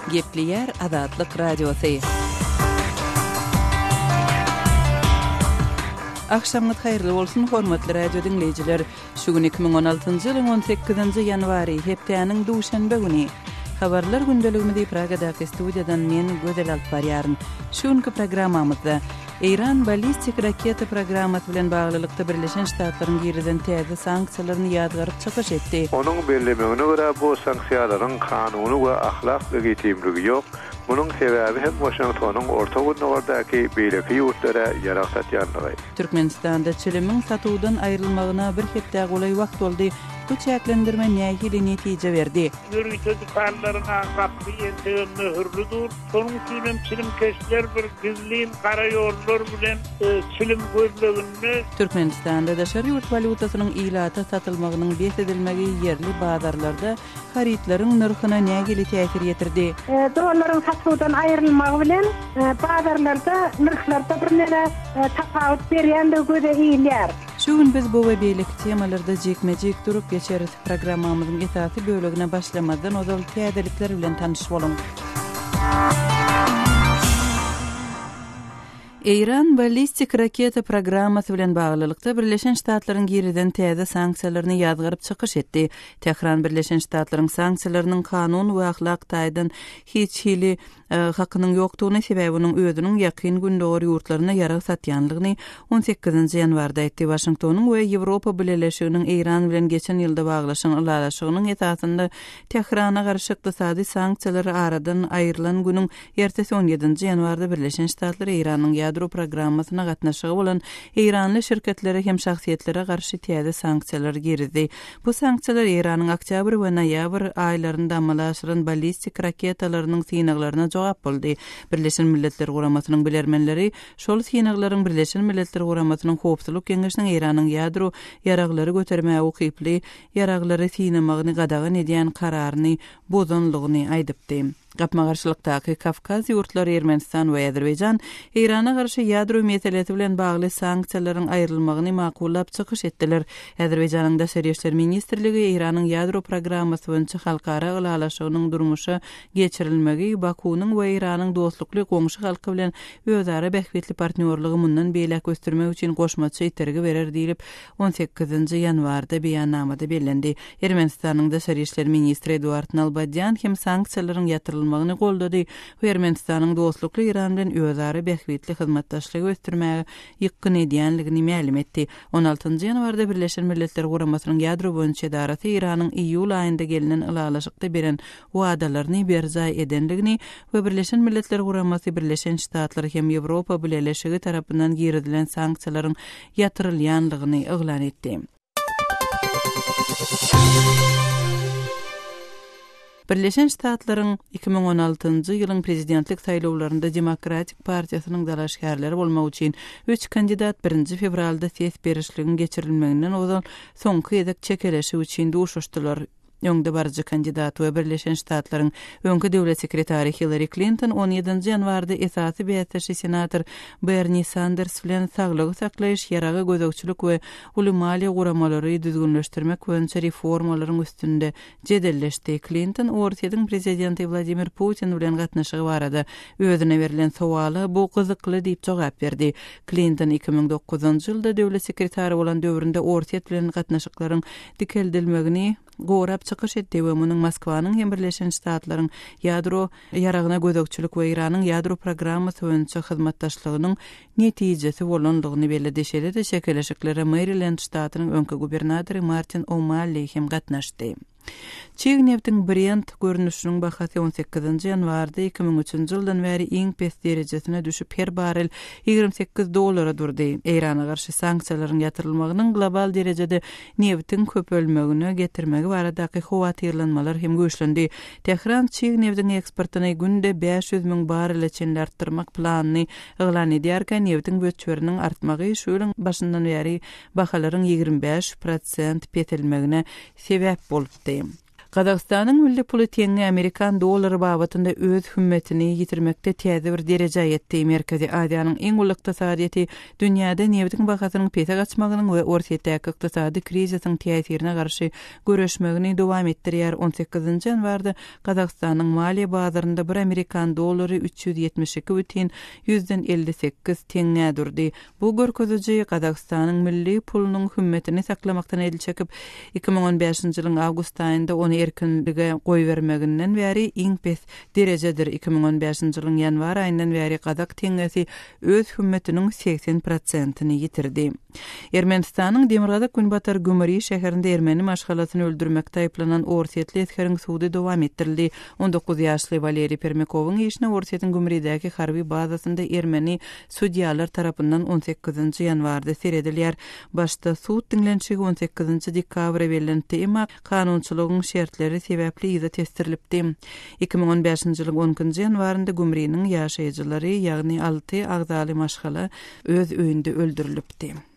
Gepleýär Azatlyk Radiosy. Agşamyňyz haýyrly bolsun, hormatly radio diňleýjiler. Şu gün 2016-njy ýylyň 18-nji ýanwary, hepdäniň duşenbe güni. Habarlar gündeligimizi Pragadaky studiýadan men Gözel alyp barýaryn. Şu günki programmamyzda Eýran ballistik raketa programmasy bilen baglylykda Birleşen Ştatlaryň girizen täze sanksiýalaryny ýazgaryp çykyş etdi. Onuň bellemegine görä, bu sanksiýalaryň kanuny we ahlak legitimligi ýok, munuň sebäbi hem Waşingtonyň Orta Gündogardaky beýleki ýurtlara ýarag satýanlygy. Türkmenistanda çilimiň satuwdan aýrylmagyna bir hepdä golaý wagt boldy, bu çäklendirme nähili netije berdi? Ýörite dükanlaryň aň gapysy entegem möhürli dur. Şonuň üçin hem çilimkeşler bir gizlin gara ýollar bilen çilim gözleginde. Türkmenistanda daşary ýurt walýutasynyň ilata satylmagynyň bes edilmegi ýerli bazarlarda harytlaryň nyrhyna nähili täsir ýetirdi? Dollaryň satuwdan aýrylmagy bilen, bazarlarda nyrhlarda birneme tapawut berýändigi göze ilýär. Şu gün biz bu we beýleki temalarda jikme-jik durup geçeris. Programmamyzyň esasy bölegine başlamazdan ozal täzelikler bilen tanyş boluň. Eýran ballistik raketa programmasy bilen baglylykda Birleşen Ştatlaryň girizen täze sanksiýalaryny ýazgaryp çykyş etdi. Tähran Birleşen Ştatlaryň sanksiýalarynyň kanun we ahlak taýdan hiç hili hakynyň ýokdugyny, sebäbi onuň özüniň Ýakyn Gündogar ýurtlaryna ýarag satýanlygyny on sekizinji ýanwarda aýtdy. Waşingtonyň we Ýewropa Bileleşiginiň Eýran bilen geçen ýylda baglaşan ylalaşygynyň esasynda Tährana garşy ykdysady sanksiýalar aradan aýrylan günüň ertesi on ýedinji ýanwarda Birleşen Ştatlar Eýranyň ýadro programmasyna gatnaşygy bolan eýranly şirketlere hem şahsyýetlere garşy täze sanksiýalar girizdi. Bu sanksiýalar Eýranyň oktýabr we noýabr aýlarynda amala aşyran ballistik raketalarynyň synaglaryna jogap boldy. Birleşen Milletler Guramasynyň bilermenleri şol synaglaryň Birleşen Milletler Guramasynyň Howpsuzlyk Geňeşiniň Eýranyň ýadro ýaraglary götermäge ukyply ýaraglary synamagyny gadagan edýän kararyny bozanlygyny aýdypdy. Gapma-garşylykdaky Kawkaz ýurtlary Ermenistan we Azerbaýjan Eýrana garşy ýadro meselesi bilen bagly sanksiýalaryň aýrylmagyny makullap çykyş etdiler. Azerbaýjanyň Daşary işler ministrligi Eýranyň ýadro programmasy boýunça halkara ylalaşygynyň durmuşa geçirilmegi Bakunyň we Eýranyň dostlukly goňşy halky bilen özara bähbitli partnýorlygy mundan beýläk ösdürmek üçin goşmaça itergi berer diýlip On sekizinji ýanwarda beýannamada bellendi. Ermenistanyň daşary işler ministri Eduard Nalbadýan hem sanksiýalaryň ýatyrylmagyny goldady we Ermenistanyň dostlukly Eýran bilen özara bähbitli hyzmatdaşlygy ösdürmäge ýykgyn edýändigini mälim etdi. On altynjy ýanwarda Birleşen Milletler Guramasynyň ýadro boýunça edarasy Eýranyň iýul aýynda gelnen ylalaşykda beren wadalaryny berjaý edendigini we Birleşen Milletler Guramasy, Birleşen Ştatlar hem Ýewropa Bileleşigi tarapyndan girizilen sanksiýalaryň ýatyrylýandygyny yglan etdi. Birleşen Ştatlaryň iki müň on altynjy ýylyň prezidentlik saýlawlarynda Demokratik partiýasynyň dalaşgärleri bolmak üçin üç kandidat birinji fewralda ses berişligiň geçirilmeginden ozal soňky gezek çekeleşik üçin duşuşdylar. öňdebaryjy kandidat we Birleşen Ştatlaryň öňki döwlet sekretary Hillari Klinton on ýedinji ýanwarda esasy bäsdeşi senator Berni Sanders bilen saglygy saklaýyş, ýaraga gözegçilik we uly maliýe guramalary düzgünleşdirmek boýunça reformalaryň üstünde jedelleşdi. Klinton Orsýetiň prezidenti Wladimir Putin bilen gatnaşygy barada özüne berlen sowala bu gyzykly diýip jogap berdi. Klinton iki müň dokuzynjy ýylda döwlet sekretary bolan döwründe Orsýet bilen gatnaşyklaryň dikeldilmegini gorap çykyş etdi we munuň Moskwanyň hem Birleşen Ştatlaryň ýadro ýaragyna gözegçilik we Eýranyň ýadro programmasy boýunça hyzmatdaşlygynyň netijesi bolandygyny belledi. Şeýle-de çekeleşiklere Merilend ştatynyň öňki gubernatory Martin O'Malli hem gatnaşdy. Çig nebtiň Brent görnüşiniň bahasy on sekizinji ýanwarda iki müň üçünji ýyldan bäri iň pes derejesine düşüp, her barrel ýigrimi sekiz dollara durdy. Eýrana garşy sanksiýalaryň ýatyrylmagynyň global derejede nebitiň köpelmegine getirmegi baradaky howatyrlanmalar hem güýçlendi. Tähran çig nebdiň eksportyny günde bäş ýüz müň barrele çenli artdyrmak planyny yglan edýärkä, nebitiň möçberiniň artmagy şu ýylyň başyndan bäri bahalaryň ýigrimi bäş prosent peselmegine sebäp bolupdy. Gazagystanyň milli puly teňňe amerikan dollary babatynda öz hümmetini ýitirmekde täze bir derejä ýetdi. Merkezi Aziýanyň iň uly ykdysadyýeti dünýäde nebitiň bahasynyň pese gaçmagynyň we Orsýetdäki ykdysady krizisiň täsirine garşy göreşmegini dowam etdirýär, on sekizinji ýanwarda Gazagystanyň maliýe bazarynda bir amerikan dollary üç ýüz ýetmiş iki bütin ýüzden elli sekiz teňňä durdy. Bu görkeziji Gazagystanyň milli pulunyň hümmetini saklamakdan el çekip, iki müň on bäşinji ýylyň awgust aýynda ony erkinlige goýbermeginden bäri iň pes derejedir, iki müň on bäşinji ýylyň ýanwar aýyndan bäri gazak teňňesi öz hümmetiniň segsen prosentini ýitirdi. Ermenistanyň demirgazak-günbatar Gümri şäherinde ermeni maşgalasyny öldürmekde aýyplanan orsýetli esgeriň sudy dowam etdirildi. On dokuz ýaşly Waleriý Permýakowyň işine Orsýetiň Gümridäki harby bazasynda ermeni Sudýalar tarapyndan on sekizinji ýanwarda seredilýär. Başda sud diňlenişigi on sekizinji dekabra bellenipdi, emma kanunçylygyň şertleri sebäpli yza tesdirilipdi. Iki müň on bäşinji ýylyň on ikinji ýanwarynda Gümriniň ýaşaýjylary, ýagny alty agzaly maşgala öz öýünde öldürilipdi.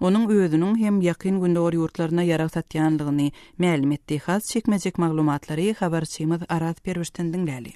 onuň özüniň hem Ýakyn Gündogar ýurtlaryna ýarag satýanlygyny mälim etdi. Has çekmejek maglumatlary habarçymyz Araz Perwişden diňläli.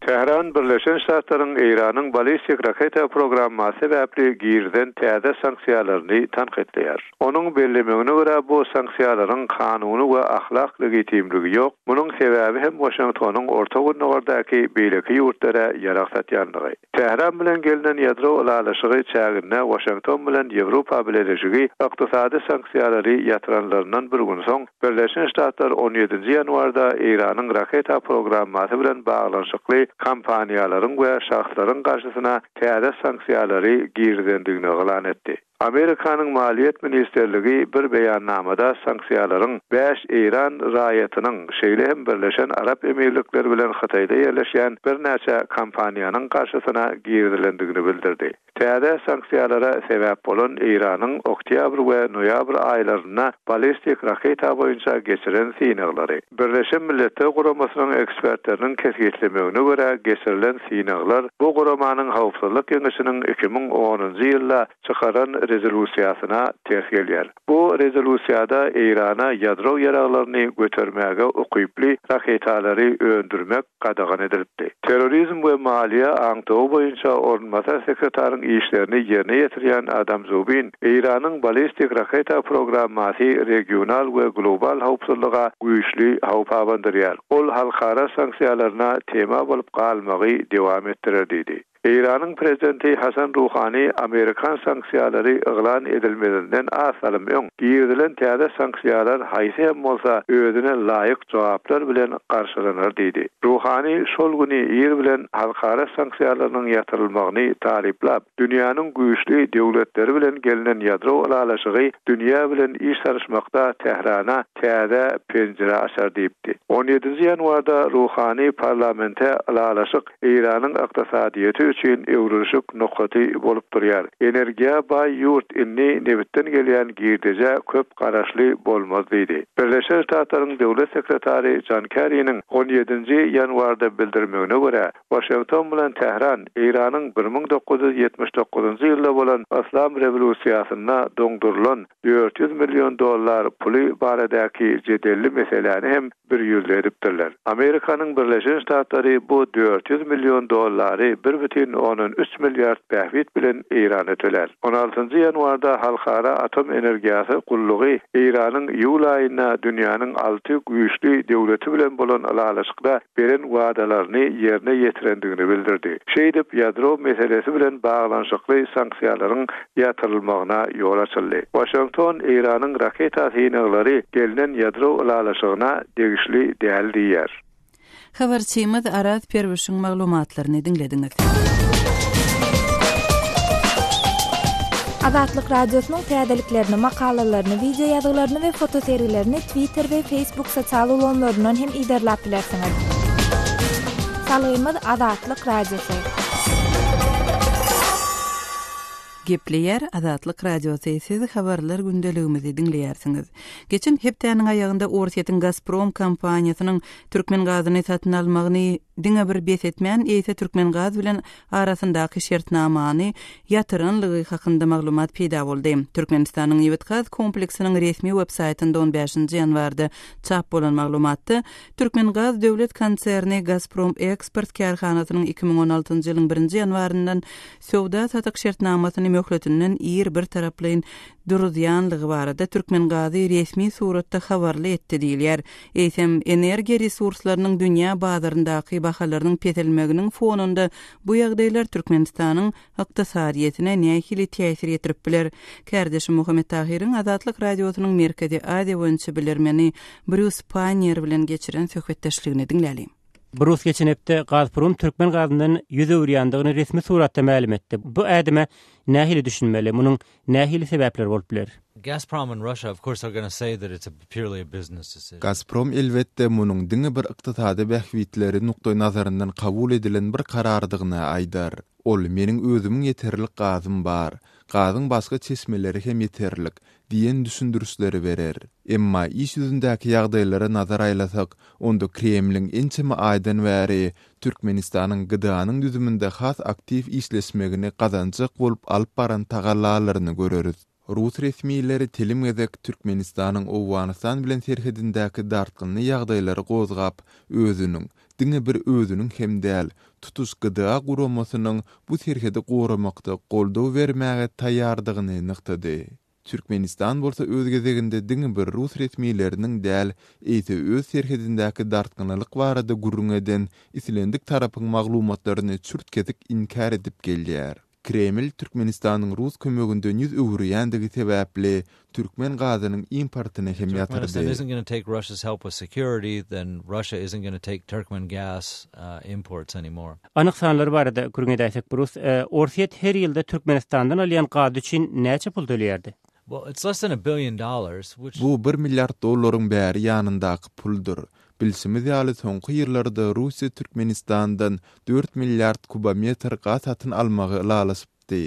Tähran Birleşen Ştatlaryň Eýranyň balistik raketa programmasy sebäpli girizen täze sanksiýalaryny tankytlaýar. Onuň bellemegine görä, bu sanksiýalaryň kanuny we ahlak legitimligi ýok, munuň sebäbi hem Waşingtonyň Orta Gündogardaky beýleki ýurtlara ýarag satýanlygy. Tähran bilen gelnen ýadro ylalaşygy çäginde Waşington bilen Ýewropa Bileleşigi ykdysady sanksiýalary ýatyranlaryndan bir gün soň, Birleşen Ştatlar on ýedinji ýanwarda Eýranyň raketa programmasy bilen baglanyşykly kompaniýalaryň we şahslaryň garşysyna täze sanksiýalary girizendigini yglan etdi. Amerikanyň Maliýet ministrligi bir beýannamada sanksiýalaryň bäş eýran raýatynyň, şeýle hem Birleşen Arap Emirlikleri bilen Hytaýda ýerleşýän birnäçe kompaniýanyň garşysyna girizilendigini bildirdi. Täze sanksiýalara sebäp bolan Eýranyň oktýabr we noýabr aýlarynda ballistik raketa boýunça geçiren synaglary. Birleşen Milletler Guramasynyň ekspertleriniň kesgitlemegine görä, geçirilen synaglar bu guramanyň Howpsuzlyk Geňeşiniň iki müň onunjy ýylda çykaran rezolýusiýasyna ters gelýär. Bu rezolýusiýada Eýrana ýadro ýaraglaryny götermäge ukyply raketalary öndürmek, gadagan edilipdi. Terrorizm we maliýe aňtawy boýunça orunbasar sekretaryň işlerini ýerine ýetirýän Adam Zubin, Eýranyň ballistik raketa programmasy regional we global howpsuzlyga güýçli howp abandyrýar, ol halkara sanksiýalaryna tema bolup galmagy dowam etdirer diýdi. Eýranyň prezidenti Hasan Ruhani amerikan sanksiýalary yglan edilmezinden az salym öň, girizilen täze sanksiýalar haýsy hem bolsa özüne laýyk jogaplar bilen garşylanar diýdi. Ruhani şol güni ir bilen halkara sanksiýalarynyň ýatyrylmagyny taryplap, dünýäniň güýçli döwletleri bilen gelnen ýadro ylalaşygy dünýä bilen iş salyşmakda Tährana täze penjire açar diýipdi. On ýedinji ýanwarda Ruhani parlamente ylalaşyk Eýranyň ykdysadyýeti üçin öwrülişik nokaty bolup durýar. Energiýa baý ýurt indi nebitden gelýän girdejä köp garaşly bolmaz diýdi. Birleşen Ştatlaryň döwlet sekretary Jon Kerriniň on ýedinji ýanwarda bildirmegine görä, Waşington bilen Tähran Eýranyň bir müň dokuz ýüz ýetmiş dokuzynjy ýylda bolan Yslam rewolýusiýasynda doňdurylan dört ýüz million dollar puly baradäki jedelli meseläni hem bir ýüzli edipdirler. Amerikanyň Birleşen Ştatlary bu dört ýüz million dollary bir bütin ondan üç milliard bähbit bilen Eýrana tölär. On altynjy ýanwarda Halkara Atom Energiýasy Gullugy Eýranyň iýul aýynda dünýäniň alty güýçli döwleti bilen bolan ylalaşykda beren wadalaryny ýerine ýetirendigini bildirdi. Şeýdip, ýadro meselesi bilen baglanyşykly sanksiýalaryň ýatyrylmagyna ýol açyldy. Waşington Eýranyň raketa synaglary gelnen ýadro ylalaşygyna degişli däl diýýär. Habarçymyz Araz Perwişiň maglumatlaryny diňlediňiz. Azatlyk Radiosynyň täzeliklerini, makalalaryny, wideo ýazgylaryny we fotosergilerini Twitter we Facebook sosial ulgamlaryndan hem yzarlap bilersiňiz. Salgymyz Azatlyk Radiosy. Gepleýär Azatlyk Radiosy, siz Habarlar gündeligimizi diňleýärsiňiz. Geçen hepdäniň aýagynda Orsýetiň Gazprom kompaniýasynyň türkmen gazyny satyn almagyny diňe bir bes etmän, eýse Türkmengaz bilen arasyndaky şertnamany ýatyranlygy hakynda maglumat peýda boldy. Türkmenistanyň Nebitgaz kompleksiniň resmi websaýtynda on bäşinji ýanwarda çap bolan maglumatda Türkmengaz döwlet konserni Gazprom Eksport kärhanasynyň iki müň on altynjy ýylyň birinji ýanwaryndan söwda-satyk şertnamasyny möhletinden ir birtaraplaýyn duruzýanlygy barada Türkmengazy resmi suratda habarly etdi diýilýär. Eýsem, energiýa resurslarynyň dünýä bazaryndaky bahalarynyň peselmeginiň fonunda bu ýagdaýlar Türkmenistanyň ykdysadyýetine nähili täsir ýetirip biler? Kärdeşim Muhammet Tahyryň Azatlyk Radiosynyň Merkezi Aziýa boýunça bilermeni Brýus Panniýer bilen geçiren söhbetdeşligini diňläliň. Brus geçen hepde Gazprom türkmen gazyndan ýüz öwürýändigini resmi suratda mälim etdi. Bu ädime nähili düşünmeli? Munuň nähili sebäpleri bolup biler? Gazprom and Russia of course are gonna say that it's a purely a business decision. Gazprom elbetde munuň diňe bir ykdysady bähbitleri nukdaý nazaryndan kabul edilen bir karardygyny aýdar. Ol, Meniň özümiň ýeterlik gazym bar. Gazyň başga çeşmeleri hem ýeterlik. diýen düşündirişleri berer. Emma iş ýüzündäki ýagdaýlara nazar aýlasak, onda Kremliň ençeme aýdan bäri Türkmenistanyň GDA-nyň düzüminde has aktiw işleşmegini gazanjak bolup alyp baran tagallalaryny göreris. Rus resmileri telim gezek Türkmenistanyň Owganystan bilen serhedindäki dartgynly ýagdaýlary gozgap, özüniň, diňe bir özüniň hem däl, tutuş GDA guramasynyň bu serhedi goramakda goldaw bermäge taýýardygyny nygtady. Türkmenistan bolsa öz gezeginde diňe bir rus resmileriniň däl, eýse öz serhedindäki dartgynlylyk barada gürrüň eden islendik tarapyň maglumatlaryny çürt-kesik inkär edip gelýär. Kreml Türkmenistanyň rus kömeginden ýüz öwürýändigi sebäpli türkmen gazynyň importyny hem ýatyrdy. Anyk sanlar barada gürrüň edäýsek, Brus, Orsýet her ýylda Türkmenistandan alýan gazy üçin näçe pul töleýärdi? Bu bir milliard dollaryň bäri ýanyndaky puldyr. Bilşimiz ýaly, soňky ýyllarda Russiýa Türkmenistandan dört milliard kubometr gaz satyn almagy ylalaşypdy.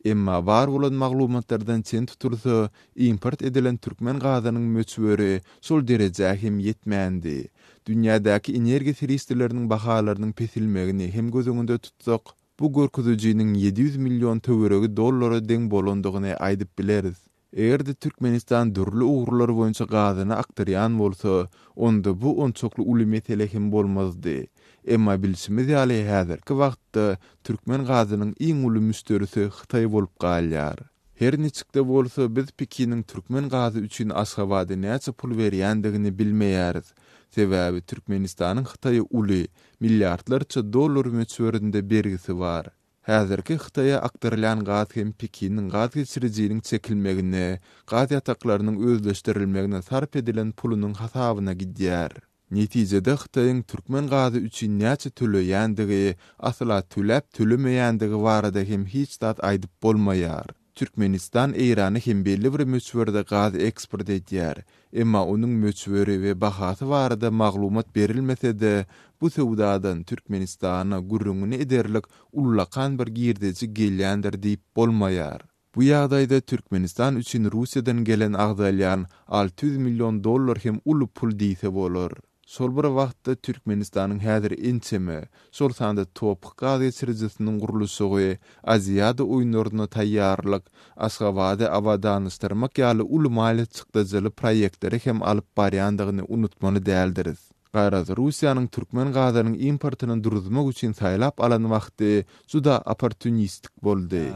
Emma bar bolan maglumatlardan çen tutulsa, import edilen türkmen gazynyň möçberi şol derejä hem ýetmändi. Dünýädäki energiýa serişdeleriniň bahalarynyň pesilmegini hem göz öňünde tutsak, Bu görkezijiniň ýedi ýüz million töweregi dollara deň bolandygyny aýdyp bileris. Eger-de Türkmenistan dürli ugurlar boýunça gazyny akdyrýan bolsa, onda bu onçakly uly mesele hem bolmazdy. Emma bilşimiz ýaly, häzirki wagtda türkmen gazynyň iň uly müşderisi Hytaý bolup galýar. Her niçik-de bolsa, biz Pekiniň türkmen gazy üçin Aşgabada näçe pul berýändigini bilmeýäris. Sebäbi Türkmenistanyň Hytaýa uly, milliardlarça dollar möçberinde bergisi bar. Häzirki Hytaýa akdyrylýan gaz hem Pekiniň gaz geçirijiniň çekilmegine, gaz ýataklarynyň özleşdirilmegine sarp edilen pulunyň hasabyna gidýär. Netijede Hytaýyň türkmen gazy üçin näçe töleýändigi, asla töläp-tölemeýändigi barada hem hiç zat aýdyp bolmaýar. Türkmenistan Eýrana hem belli bir möçberde gaz eksport edýär, emma onuň möçberi we bahasy barada maglumat berilmese-de, bu söwdadan Türkmenistana gürrüňini ederlik ullakan bir girdeji gelýändir diýip bolmaýar. Bu ýagdaýda Türkmenistan üçin Russiýadan gelen agzalýan alty ýüz million dollar hem uly pul diýse bolar. Şol bir wagtda Türkmenistanyň häzir ençeme, şol sanda Toph gaz geçirijisiniň gurluşygy, Aziada oýunlaryna taýýarlyk, Aşgabady abadanlaşdyrmak ýaly uly maliýe çykdajyly proýektleri hem alyp barýandygyny unutmaly däldiris. Garaz, Russiýanyň türkmen gazynyň importyny duruzmak üçin saýlap alan wagty juda opportunistik boldy.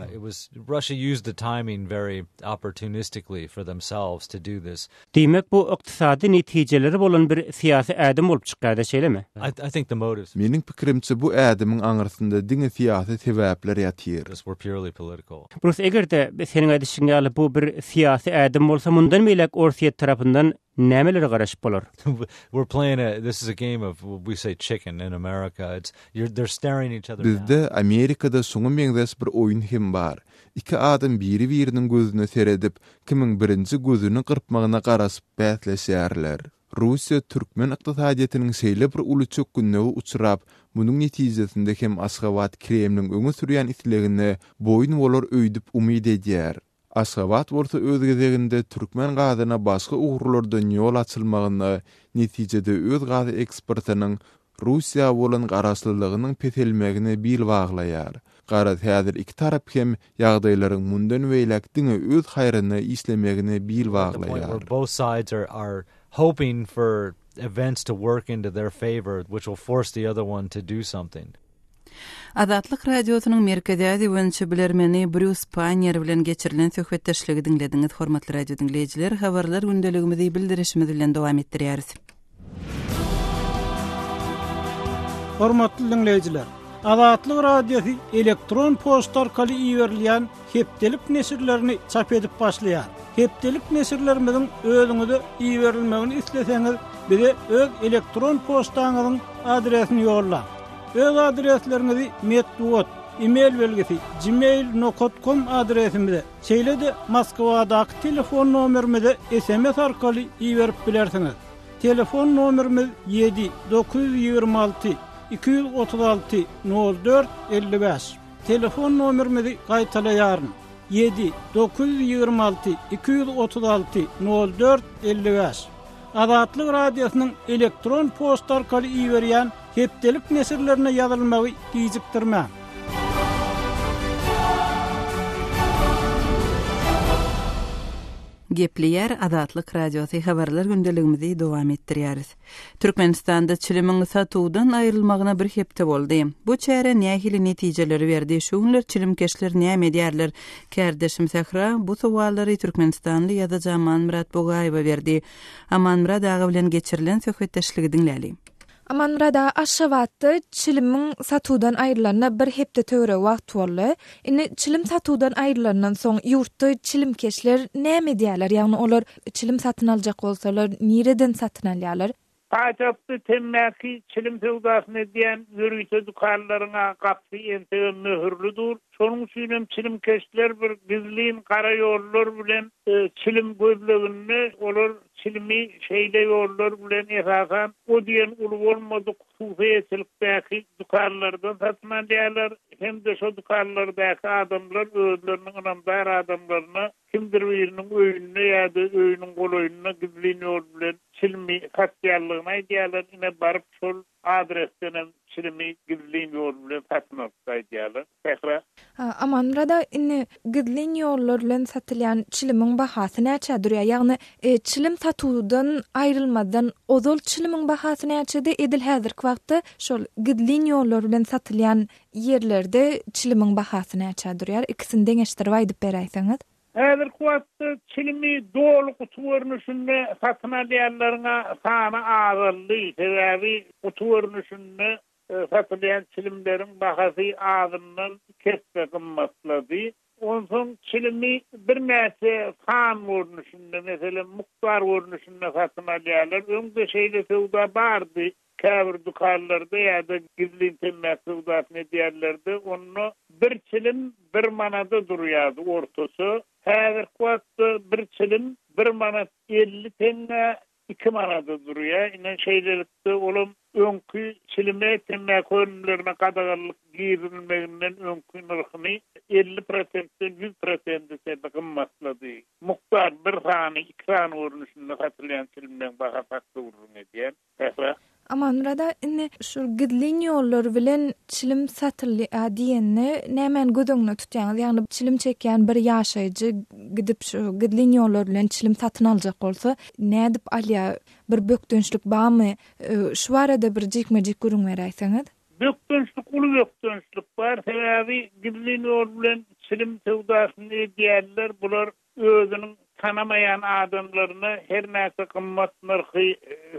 Diýmek, bu ykdysady netijeleri bolan bir syýasy ädim bolup çykýar-da, şeýlemi? Meniň pikirimçe, bu ädimiň aňyrsynda diňe syýasy sebäpler ýatyr. Brus, eger-de, seniň aýdyşyň ýaly, bu bir syýasy ädim bolsa, mundan beýläk Orsýet tarapyndan Nämelere garaşyp bolar? We're playing a this is a game of we say chicken in America it's you're they're staring each other down. Bizde Amerikada şuňa meňzeş bir oýun hem bar. Iki adam biri-biriniň gözüne seredip, kimiň birinji gözüni gyrpmagyna garaşyp bäsleşýärler. Russiýa türkmen ykdysadyýetiniň şeýle bir uly çökgünlige uçrap, munuň netijesinde hem Aşgabat Kremliň öňe sürýän islegine boýun bolar öýdüp umyt edýär. Aşgabat bolsa öz gezeginde türkmen gazyna başga ugurlardan ýol açylmagyna, netijede öz gaz eksportynyň Russiýa bolan garaşlylygynyň peselmegine bil baglaýar. Garaz häzir iki tarap hem ýagdaýlaryň mundan beýläk diňe öz haýryna işlemegine bil baglaýar. Azatlyk Radiosynyň Merkezi Aziýa boýunça bilermeni Brýus Panniýer bilen geçirilen söhbetdeşligi diňlediňiz. Hormatly radio diňleýjiler, habarlar gündeligimizi bildirişimiz bilen dowam etdirýäris. Hormatly diňleýjiler, Azatlyk Radiosy elektron poçta arkaly iberilýän hepdelik neşirlerini çap edip başlaýar. Hepdelik neşirlerimiziň özüňize iberilmegini isleseňiz, bize öz elektron poçtaňyzyň adresini ýollaň. Öz adresleriňizi metbugat, e-mail belgisi, gmail nokat kom adresimize, şeýle-de Moskwadaky telefon nomerimize sms arkaly iberip bilersiňiz. Telefon nomerimiz ýedi, dokuz ýüz ýigrimi alty, iki ýüz otuz alty, nol dört, elli bäş. Telefon nomerimizi gaýtalaýaryn, ýedi, dokuz ýüz ýigrimi alty, iki ýüz otuz alty, nol dört, elli bäş. Azatlyk Radiosynyň elektron poçta arkaly iberýän hepdelik neşirlerine ýazylmagy gijikdirmäň. Gepleýär Azatlyk Radiosy habarlar gündeligimizi dowam etdirýäris. Türkmenistanda çilimiň satuwdan aýrylmagyna bir hepde boldy. Bu çäre nähili netijeleri berdi, şu günler çilimkeşler näme edýärler? Kärdeşim Sähra bu sowallary türkmenistanly ýazyjy Amanmyrat Bugaýewe berdi. Amanmyrat aga bilen geçirilen söhbetdeşligi diňläli. Amanmyrat aga, Aşgabatda çilimiň satuwdan aýrylanyna bir hepde töweregi wagt boldy. Indi çilim satuwdan aýrylandan soň, ýurtda çilimkeşler näme edýärler? Ýagny olar Çilim satyn aljak bolsalar, nireden satyn alýarlar? Paýtagtda temmäki, çilim söwdasyny edýän ýörite dükanlaryň gapysy entegem möhürli dur. Şonuň üçin hem çilimkeşler bir gizlin gara ýollar bilen çilim gözleginde, olar çilimi şeýle ýollar bilen esasan o diýen uly bolmadyk hususy eýeçilikdäki dükanlardan satyn alýarlar hem-de şo dükanlardaky adamlar özleriniň ynamdar adamlaryna Kimdir biriniň öýünde ýa-da öýüniň golaýynda gizlin ýol bilen çilimi satýanlygyny aýdýarlar, ine, baryp şol adresdenem çilimi gizlin ýol bilen satyn alypdy aýdýarlar. Sähra. Amanmyrada, indi gizlin ýollar bilen satylýan çilimiň bahasy näçä durýar? Ýagny, çilim satuwdan aýrylmazdan ozal çilimiň bahasy näçedi? Edil häzirki wagtda şol gizlin ýollar bilen satylýan ýerlerde çilimiň bahasy näçä durýar? Ikisini deňeşdirip aýdyp beräýseňiz. Häzirki wagtda çilimi doly guty görnüşinde satyn alýanlaryň sany azaldy. Sebäbi guty görnüşinde satylýan çilimleriň bahasy azyndan iki esse gymmatlady. Onsoň çilimi birnäçe san görnüşinde, meselem, mukdar görnüşinde satyn alýarlar. Öň-de şeýle söwda bardy. Käbir dükanlarda ýa-da gizlin temmäki söwdasyny edýänlerde onda bir çilim bir manada durýardy ortaça. Häzirki wagtda bir çilim bir manat elli teňňä iki manada durýar. Ine, şeýlelikde olam öňki çilime temmäki önümlerine gadaganlyk girizilmeginden öňki nyrhyny elli prosentden ýüz prosente çenli gymmatlady. Mukdar bir sany, iki sany görnüşinde satylýan çilimleň bahasy hakda gürrüň edýän. Ähä. Amanmyrada indi şul gizlin ýollar bilen çilim satyldy a diýende nämäni göz öňüne tutýaňyz? Ýagny çilim çekýän bir ýaşaýjy gidip şu gizlin ýollar bilen çilim satyn aljak bolsa nädip alýar? Bir bökdençlik barmy? Şu barada bir jikme-jik gürrüň beräýseňiz. Bökdençlik uly bökdençlik bar. Sebäbi gizlin ýol bilen çilim söwdasyny edýänler bular Özüniň tanamaýan adamlaryna her näçe gymmat nyrhy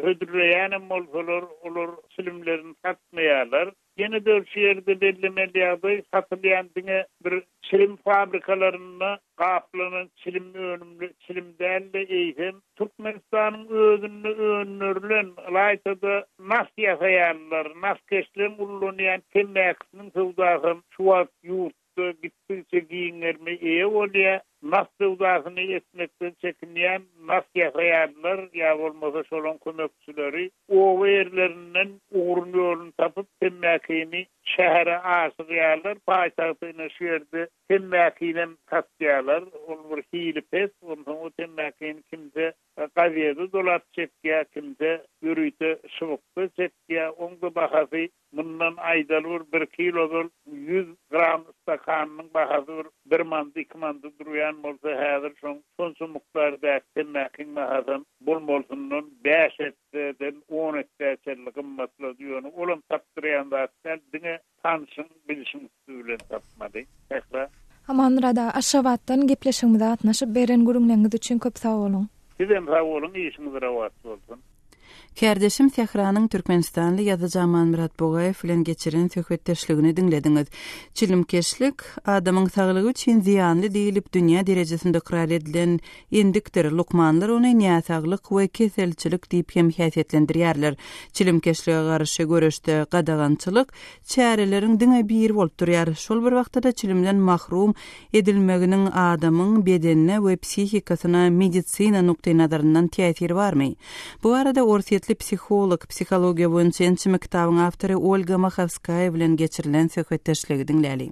hödürleýänem bolsalar, olar çilimlerini satmaýarlar. Ýene-de şu ýerde bellemeli ýagdaý, satylýan diňe bir çilim fabrikalarynda gaplanan çilim önümli çilim däl-de, eýsem, Türkmenistanyň özünde öndürilen, ylaýta-da, nas ýasaýanlar, naskeşleriň ullanýan temmäkisiniň söwdasy hem şu wagt ýurt Moskwa gitdigiçe giň gerime eýe bolýar. Nagt söwdasyny etmekden çekinýän nagt ýasaýanlar ýa bolmasa şolaň kömekçileri oba ýerlerinden ugrun ýolun tapyp temmäkini şähere aşyrýarlar. Paýtagta ine şu ýerde temmäkinem satýarlar. Ol bir hili pes. Onsoň o temmäkini kimse gazede dolap çekýär, kimse ýörite şybykda çekýär. Oň-da bahasy Mundan aýdalwur birki ýyl ozal ýüz gram stakanynyň bahasy bir bir manda, iki manda durýan bolsa, häzir şoň şonça mukdardaky temmäkiň bahasam bolmalysyndan bäş esseden on esseçelli gymmatlady. Ýöne olam tapdyrýan zat däl, diňe tanşyň, bilşiň. Siz bilen tapmady. Sähra. Amanrada, Aşgabatdan gepleşigimize gatnaşyp, beren gürrüňleriňiz üçin köp sag boluň! Sizem sag boluň, işiňiz rowaç bolsun! Kärdeşim Sähranyň türkmenistanly ýazyjy Amanmyrat Bugaýew bilen geçiren söhbetdeşligini diňlediňiz. Çilimkeşlik, adamyň saglygy üçin zyýanly diýlip dünýä derejesinde ykrar edilen endikdir, lukmanlar ony näsaglyk we keselçilik diýip hem häsiýetlendirýärler. Çilimkeşlige garşy göreşde gadagançylyk, çäreleriň diňe biri bolup durýar, şol bir wagtda-da çilimden mahrum edilmeginiň adamyň bedenine we psihikasyna medisina nukdaýnazaryndan täsiri barmy? Bu barada orsýetli psiholog, psihologiýa boýunça ençeme kitabyň awtory Olga Mahovskaýa bilen geçirilen söhbetdeşligi diňläliň.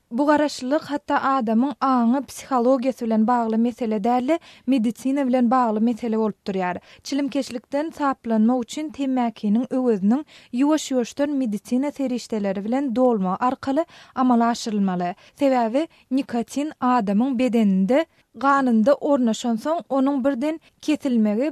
Bu garaşlylyk hatda adamyň aňy, psihologiýasy bilen bagly mesele däl-de, medisina bilen bagly mesele bolup durýar. Çilimkeşlikden saplanmak üçin temmäkiniň öweziniň ýuwaş-ýuwaşdan medisina serişdeleri bilen dolmagy arkaly amala aşyrylmaly. Sebäbi nikotin adamyň bedeninde, ganynda ornaşansoň, onuň birden kesilmegi,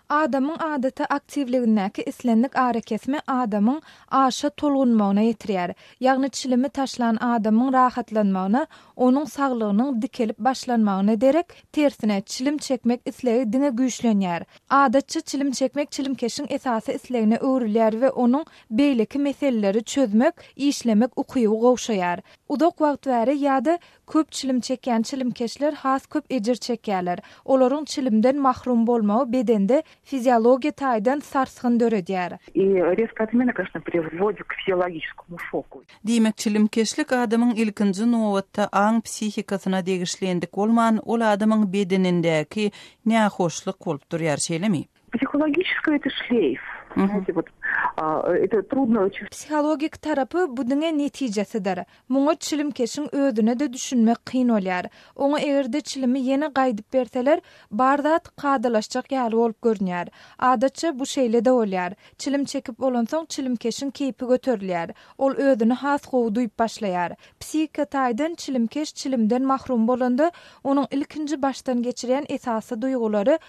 Adamyň adaty aktiwligindäki islendik arakesme adamyň aşa tolgunmagyna ýetirýär. Ýagny çilimi taşlan adamyň rahatlanmagyna, onuň saglygynyň dikelip başlanmagyna derek, tersine, çilim çekmek islegi diňe güýçlenýär. Adatça çilim çekmek çilimkeşiň esasy islegine öwrülýär we onuň beýleki meseleleri çözmek, işlemek ukyby gowşaýar. Uzak wagt bäri ýa-da Köp çilim çekýän çilimkeşler has köp ejir çekýärler. Olaryň çilimden mahrum bolmagy bedende fiziologiýa taýdan sarsgyn döredýär. Diýmek, çilimkeşlik adamyň ilkinji nobatda aň psihikasyna degişli endik bolman, ol adamyň bedenindäki nähoşluk bolup durýar, şeýlemi? Psihologiskiý şleýf, nädip ol, ýa-da trudno oçün. Psihologik tarapy bu diňe netijesidir. Muňa çilimkeşiň özüne-de düşünmek kyn bolýar. Oňa eger-de çilimi ýene gaýdyp berseler, bar zat kadalaşjak ýaly bolup görünýär. Adatça, bu şeýle-de bolýar. Çilim çekip bolansoň çilimkeşiň keýpi göterilýär. Ol özüni has gowy duýup başlaýar. Psihiki taýdan çilimkeş çilimden mahrum bolanda, onuň ilkinji başdan geçirýän esasy duýgulary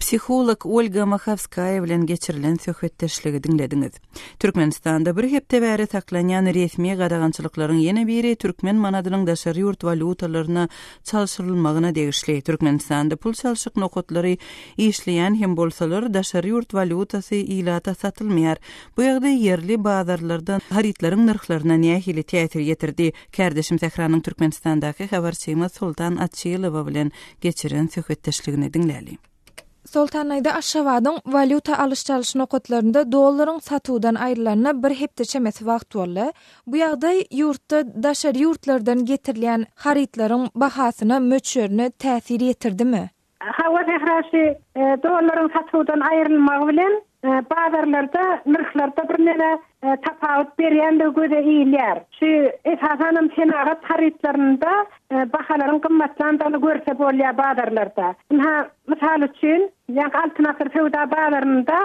Psiholog Olga Mahowskaýa bilen geçirilen söhbetdeşligi diňlediňiz. Türkmenistanda bir hepde bäri saklanýan resmi gadagançylyklaryň ýene biri türkmen manadynyň daşary ýurt walýutalaryna çalşyrylmagyna degişli. Türkmenistanda pul çalşyk nokatlary işleýän hem bolsalar, daşary ýurt walýutasy ilata satylmaýar. Bu ýagdaý ýerli bazarlarda harytlaryň nyrhlaryna nähili täsir ýetirdi? Kärdeşim Sähranyň Türkmenistandaky habarçymyz Soltan Açylowa bilen geçiren söhbetdeşligini diňläli. Soltanaýda Aşgabadyň walýuta alyş-çalyş nokatlarynda dollaryň satuwdan aýrylanyna bir hepde çemesi wagt boldy. Bu ýagdaý ýurtda daşary ýurtlardan getirilýän harytlaryň bahasyna, möçberine täsir ýetirdimi? Hawa, Sähraşy, dollaryň satuwdan aýrylmagy bilen Bazarlarda nyrhlarda birneme tapawut berýändigi göze ilýär. Şu, esasanam, senagat harytlarynda bahalaryň gymmatlandygyny görse bolýar bazarlarda. Ynha, mysal üçin, ýaňky Altyn asyr söwda bazarynda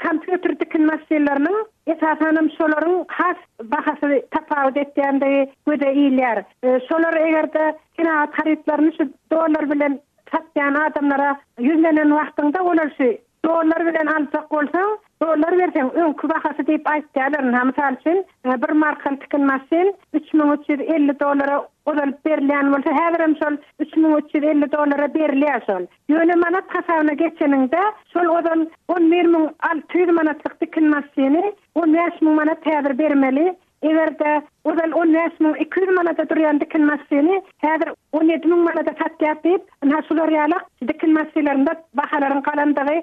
kompýuter tikin maşynlarynyň, esasanam, şolaryň has bahasy tapawut etýändigi göze ilýär. Şolar eger-de senagat harytlaryny şu dollar bilen satýan adamlara ýüzlenen wagtyňda olar şu Dollar bilen aljak bolsaň, dollar berseň, öňki bahasy diýip aýtýarlar. Ynha, mysal üçin, bir markaly tikin maşyn üç müň üç ýüz elli dollara ozal berilýän bolsa, häzirem şol üç müň üç ýüz elli dollara berilýär şol. Ýöne manat hasabyna geçeniňde, şol ozal on bir müň alty ýüz manatlyk tikin maşyny on bäş müň manat häzir bermeli, Eger-de ozal on bäş müň iki ýüz manada durýan dikin maşyny häzir on ýedi müň manada satýar diýip, ynha şular ýalak dikin maşylarynda bahalaryň galandygy,